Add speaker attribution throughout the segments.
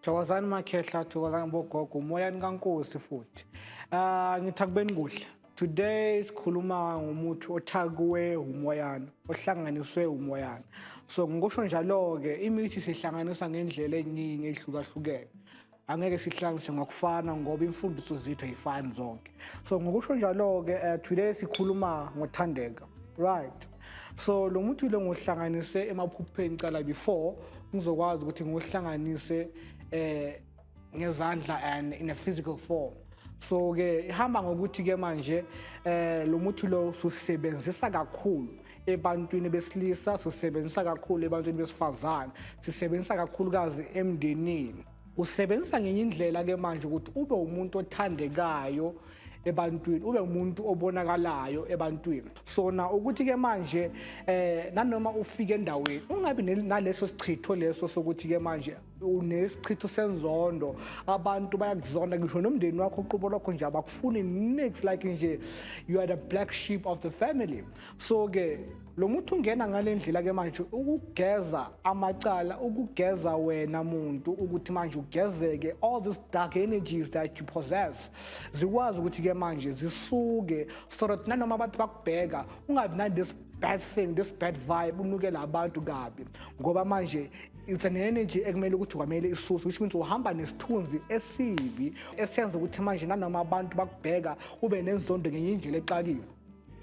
Speaker 1: thokozani makhehla thokozani bogogo umoyani kankosi futhi um ngithi akubeni kuhle today sikhuluma ngomuthi othakuwe umoyana ohlanganiswe umoyana so ngikusho njalo-ke imithi sihlanganisa ngendlela eningi ehlukahlukene angeke sihlanganise ngokufana ngoba imfundiso zethu ayifani zonke so ngokusho njalo-ke uh, today sikhuluma ngothandeka right so lo muthi lo ngohlanganise emaphupheni cala before ngizokwazi ukuthi ngohlanganise eh ngezandla and in a physical form so-ke ihamba ngokuthi-ke manje eh lo muthi lo susebenzisa kakhulu ebantwini besilisa sisebenzisa kakhulu ebantwini besifazane sisebenzisa kakhulukazi emndenini usebenzisa ngenye indlela ke manje ukuthi ube umuntu othandekayo ebantwini ube umuntu obonakalayo ebantwini sona ukuthi ke manje eh nanoma ufike endaweni ungabi naleso sichitho leso sokuthi ke manje unesichitho senzondo abantu bayakuzonda ngisho nomndeni wakho uqubo lwakho nje abakufuni nix like nje you are the black sheep of the family so ke lo muntu ungena ngale ndlela ke manje ukugeza amacala ukugeza wena muntu ukuthi manje ugezeke all these dark energies that you possess zikwazi ukuthi ke manje zisuke so that nanoma abantu bakubheka ungabi nandis bad thing this bad vibe unukela abantu kabi ngoba manje it's an energy ekumele ukuthi kwamele isuse which means uhamba nesithunzi esibi esiyenza ukuthi manje nanoma abantu bakubheka ube nenzondo ngenye indlela exakile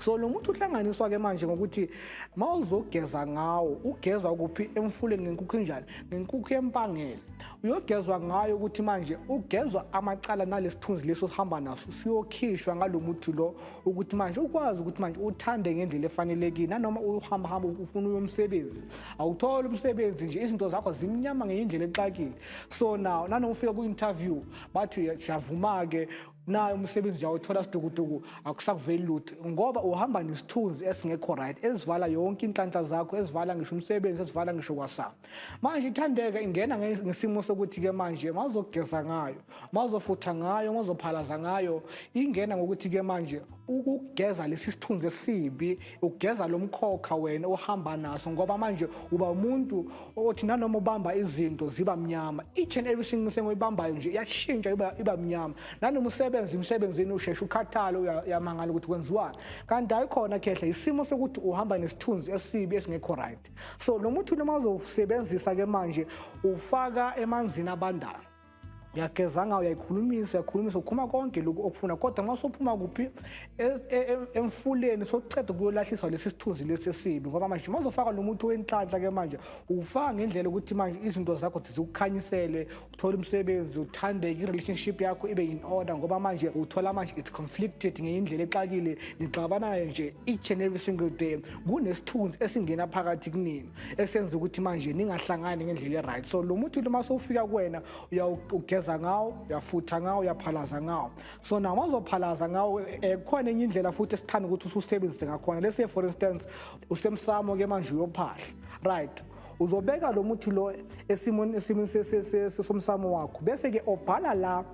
Speaker 1: so lo muntu uhlanganiswa ke manje ngokuthi ma uzogeza ngawo ugeza kuphi emfuleni ngenkukhu enjani ngenkukhu yempangele uyogezwa ngayo ukuthi manje ugezwa amacala nalesithunzi leso sihamba naso siyokhishwa ngalo muthi lo ukuthi manje ukwazi ukuthi manje uthande ngendlela efanelekile nanoma uhamba hamba ufuna uyomsebenzi awutholi umsebenzi nje izinto zakho zimnyama ngenye indlela exakile so now nanoma ufika kwi-interview bathi siyavuma-ke nayo umsebenzi uyawuthola sidukuduku akusakuveli lutho ngoba uhamba nesithunzi esingekho right esivala yonke inhlanhla zakho esivala ngisho umsebenzi esivala ngisho kwasama manje ithandeka ingena ngesimo sokuthi-ke manje mazogeza ngayo mazofutha ngayo mazophalaza ngayo ingena ngokuthi-ke manje ukugeza lesi sithunzi esibi ugeza lo mkhokha wena ohamba naso ngoba manje uba umuntu othi nanoma ubamba izinto ziba mnyama each and every single thing oyibambayo nje iyashintsha iba, iba mnyama nanoma usebenza emsebenzini usheshe ukhathale uyamangala ukuthi kwenziwani kanti ayikhona khehla isimo sokuthi uhamba nesithunzi esibi esingekho right so lo muthi noma uzowusebenzisa ke manje ufaka emanzini abandayo uyageza ngayo uyayikhulumisa uyakhulumisa ukhuluma konke lokhu okufuna kodwa uma sophuma kuphi e, e, e, emfuleni sokuceda kuyolahliswa lesi sithunzi lesi esibi ngoba manje uma uzofaka lo muthi wenhlanhla ke manje uwufaka ngendlela ukuthi manje izinto zakho zikukhanyisele uthole umsebenzi uthandeke i-relationship yakho ibe in order ngoba manje uthola manje it's conflicted ngenye indlela exakile nixabanayo nje each and every single day kunesithunzi esingena phakathi kunini esenza ukuthi manje ningahlangani ngendlela e-right so lo muthi uma sowufika kuwena uyawugeza ngawo uyafutha ngawo uyaphalaza ngawo so nawo mazophalaza ngawo um eh, kukhona enye indlela futhi esithanda ukuthi ususebenzise ngakhona lese for instance usemsamo ke manje uyophahla right uzobeka lo muthi lo esimweni esimweni somsamo wakho bese-ke obhala la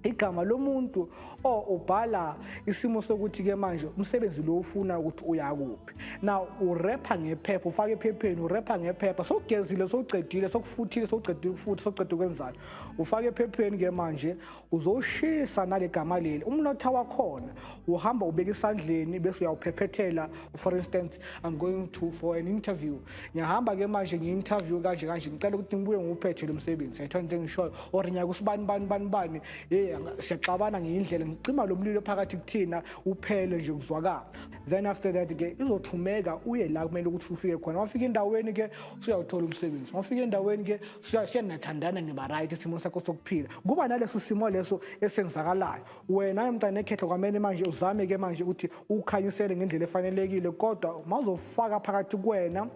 Speaker 1: igama lomuntu o ubhala isimo sokuthi ke manje umsebenzi lo ufuna ukuthi uyakuphi now urepha ngephepha ufaka ephepheni urepha ngephepha sokugezile sokucedile sokufuthile sokucedile ukufuthi sokucedile ukwenzani ufaka ephepheni ke manje uzoshisa nale gama leli umnotha wakhona uhamba ubeka isandleni bese uyawuphephethela for instance i'm going to for an interview ngiyahamba ke manje ngi-interview kanje kanje ngicela ukuthi ngibuye ngiwuphethe lo msebenzi sayithola into engishoyo or ngiya kusibani bani bani bani ye siyaxabana ngiyindlela ngicima lo mlilo phakathi kuthina uphele nje kuzwakala then after that ke izothumeka uye la kumele ukuthi ufike khona wafika endaweni ke usuyawuthola umsebenzi wafika endaweni ke siyanathandana ngiba right isimo sakho sokuphila kuba naleso simo leso esenzakalayo wena ke mntana ekhehlo kwamele manje uzame ke manje ukuthi ukhanyisele ngendlela efanelekile kodwa mawuzofaka phakathi kwena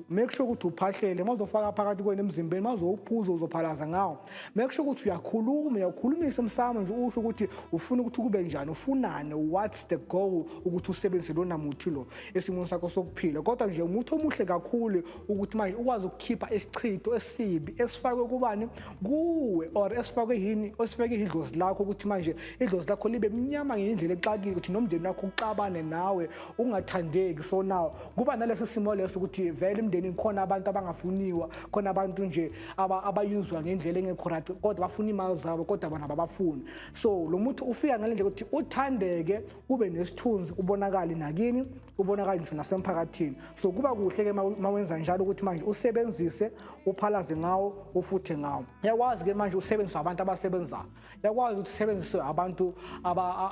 Speaker 1: make sure ukuthi uphahlele mawuzofaka phakathi kwena emzimbeni mawuzowuphuza uzophalaza ngawo make sure ukuthi uyakhuluma uyakhulumisa umsamo nje usho ukuthi ufuna ukuthi kube njani ufunani what's the goal ukuthi usebenzise lona muthi lo esimweni sakho sokuphila kodwa nje umuthi omuhle kakhulu ukuthi manje ukwazi ukukhipha isichitho esibi esifakwe kubani kuwe or esifakwe yini osifeke idlozi lakho ukuthi manje idlozi lakho libe mnyama ngendlela exakile ukuthi nomndeni wakho uxabane nawe ungathandeki so now kuba naleso simo leso ukuthi vele imndeni khona abantu abangafuniwa khona abantu nje abayinzwa ngendlela engekho right kodwa bafuna imali zabo kodwa bona babafuni so lo muntu ufika ngale ndlela ukuthi uthandeke ube nesithunzi ubonakali nakini kubonakala ngisho nasemphakathini so kuba kuhle-ke uma wenza njalo ukuthi manje usebenzise uphalaze ngawo ufuthe ngawo yakwazi-ke manje usebenziswe abantu abasebenzayo yakwazi ukuthi usebenziswe abantu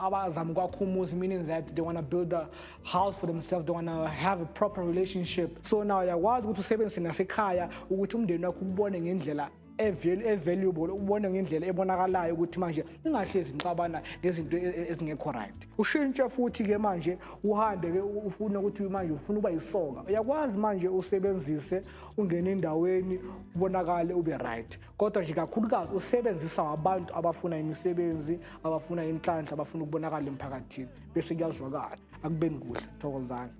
Speaker 1: abazama ukwakha umuzi meaning that they want to build a house for themselves they want to have a proper relationship so now yakwazi ukuthi usebenzise nasekhaya ukuthi umndeni wakho ukubone ngendlela evaluable ubone ngendlela ebonakalayo ukuthi manje ingahlezi ngixabana ngezinto e, e, ezingekho right ushintshe futhi ke manje uhambe ke ufuna ukuthi manje ufuna uba yisoka uyakwazi manje usebenzise ungene endaweni ubonakale ube right kodwa nje kakhulukazi usebenzisa abantu abafuna imisebenzi abafuna inhlanhla abafuna ukubonakala emphakathini bese kuyazwakala akubeni kuhle thokozani